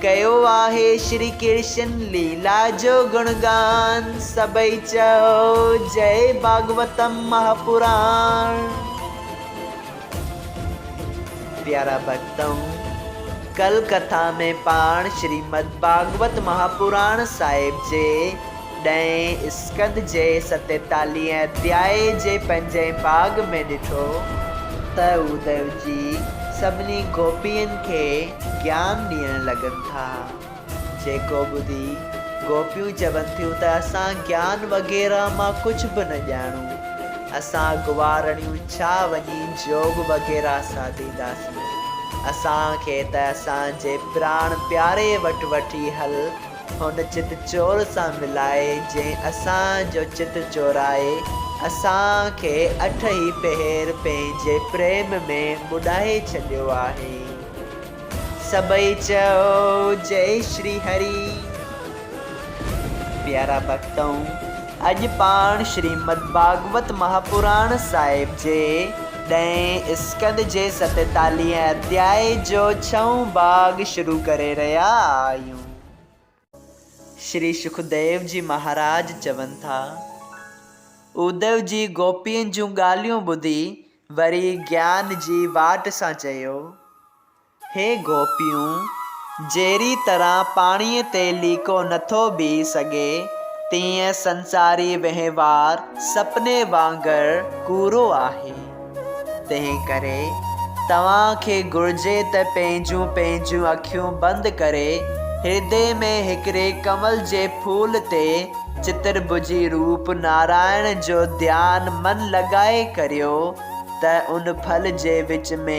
ڪيو آهي شري ڪرشن ليلا جو گڻ گان سڀئي چئو جئي ڀاڳوتم مها پراڻ. پيارا ڀڳتؤ! ڪل ڪٿا ۾ پاڻ شريمد ڀاڳوت مها پراڻ صاحب جي. ڏهين اسڪند جي ستيتاليهين اڌياء جي پنجين پاڳ ۾ ڏٺو ته اوديو جي سڀني گوپين کي گيان ڏيڻ لڳن ٿا، جيڪو ٻڌي گوپيون چون ٿيون ته اسان گيان وغيره مان ڪجهه به نه ڄاڻون، اسان گوارڻيون ڇا وڃي جوڳ وغيره ساڌينداسين، اسان کي ته اسان جي پراڻ پياري وٽ وٺي هل. هن چت چور سان ملائي، جنهن اسان جو چت چورائي، اسان کي اٺ ئي پهر پنهنجي پريم ۾ ٻڏائي ڇڏيو آهي. سڀئي چئو جئي شري هري. پيارا ڀڳتؤن! اڄ پاڻ شريمد ڀاڳوت مهاپراڻ صاحب جي ڏهين اسڪند جي ستيتاليهين اڌيائي جو ڇهون ڀاڳ شروع ڪري رهيا آهيون. شري شڪديو جي مهاراج چون ٿا. اوديو جي گوپين جون ڳالهيون ٻڌي وري گيان جي واٽ سان چيو، هي گوپيون! جهڙي طرح پاڻيء تي ليڪو نٿو بيهي سگهي، تيئن سنساري وهنوار سپني وانگر ڪورو آهي. تنهنڪري توهان کي گهرجي ته پنهنجون پنهنجون اکيون بند ڪري هردي ۾ هڪڙي ڪنول جي ڦول تي چترڀجي روپ نارائڻ جو ڌيان من لڳائي ڪريو ته ان ڦل جي وچ ۾.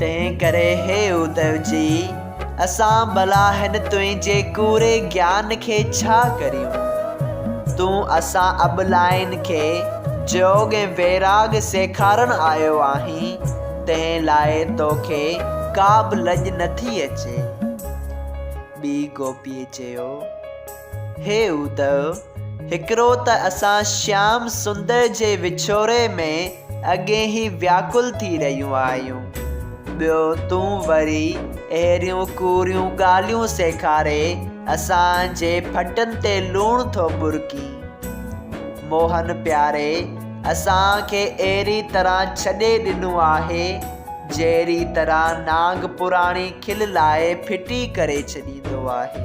تنهن ڪري هي اڌو جي، اسان ڀلا هن تنهنجي ڪوڙي گيان کي ڇا ڪريون؟ تون اسان ابلاين کي جوڳ ۽ ويراڳ سيکارڻ آيو آهين، تنهن لاء توکي ڪا به لڄ نٿي اچي؟ ٻي گوپيء چيو. هي ادو! هڪڙو ته اسان شيام سندر جي وڇوڙي ۾ اڳين ئي وياڪل ٿي رهيون آهيون، ٻيو تون وري اهڙيون ڪوڙيون ڳالهيون سيکاري اسان جي ڦٽن تي لوڻ ٿو ٻرڪين. موهن پياري اسان کي اهڙي طرح ڇڏي ڏنو آهي، جهڙي طرح نانگ پراڻي کل لاهي ڦٽي ڪري ڇڏيندو آهي.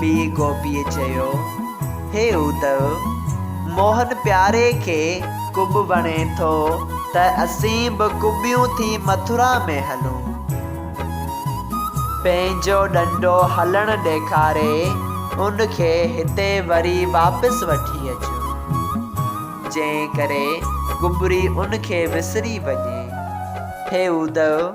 ٻي گوپيء چيو، هي ادو! موهن پياري کي ڪٻ وڻي ٿو ته اسين به ڪٻيون ٿي مٿرا ۾ هلون. پنهنجو ڏنڊو هلڻ ڏيکاري ان کي هتي وري واپس وٺي اچون، جنهن ڪري ڪٻري ان کي وسري وڃي. هي ادو!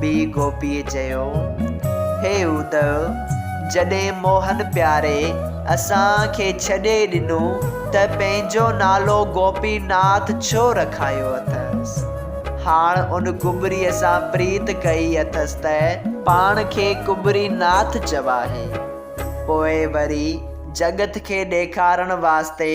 ٻي گوپيء چيو، هي اودئو! جڏهن موهن پياري اسان کي ڇڏي ڏنو ته پنهنجو نالو گوپي ناٿ ڇو رکايو اٿس؟ هاڻ ان ڪٻريء سان پريت ڪئي اٿس ته پاڻ کي ڪٻري ناٿ چوائي. پوء وري جڳت کي ڏيکارڻ واسطي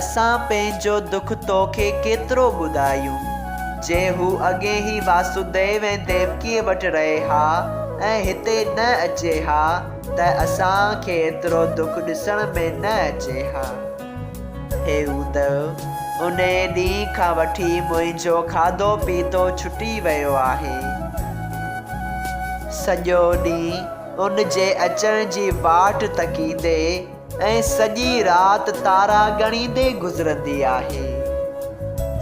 اسان پنهنجو دک تو کي ڪيترو ٻڌايون. جي هو اڳي ئي واسوديو ۽ ديوڪيء وٽ رهي ها ۽ هتي نه اچي ها ته اسان کي ايترو دک ڏسڻ ۾ نه اچي ها. هي ادو، انهيء ڏينهن کان وٺي منهنجو کاڌو پيتو ڇٽي ويو آهي. سڄو ڏينهن ان جي اچڻ جي واٽ تڪيندي، ۽ سڄي رات تارا ڳڻيندي گذرندي آهي.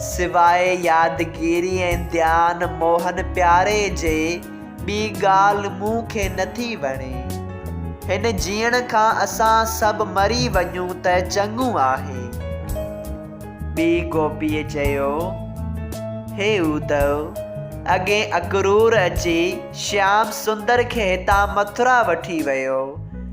سواء يادگيري ۽ ڌيان موهن پياري جي ٻي ڳالهه مون کي نٿي وڻي. هن جيئڻ کان اسان سڀ مري وڃون ته چڱو آهي. ٻي گوپيء چيو، هي اودئو، اڳهين اڪرور اچي شيام سندر کي هتان مٿرا وٺي ويو.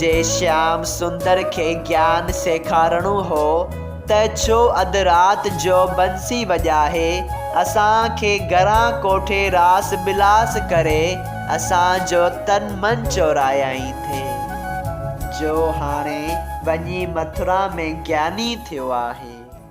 جي شيام سندر کي گيان سيکارڻو هو ته ڇو اڌ رات جو بنسي وڄائي اسان کي گهران ڪوٺي راس بلاس ڪري اسان جو تن من چورائيائين ٿي جو هاڻي وڃي مٿرا ۾ گياني ٿيو آهي.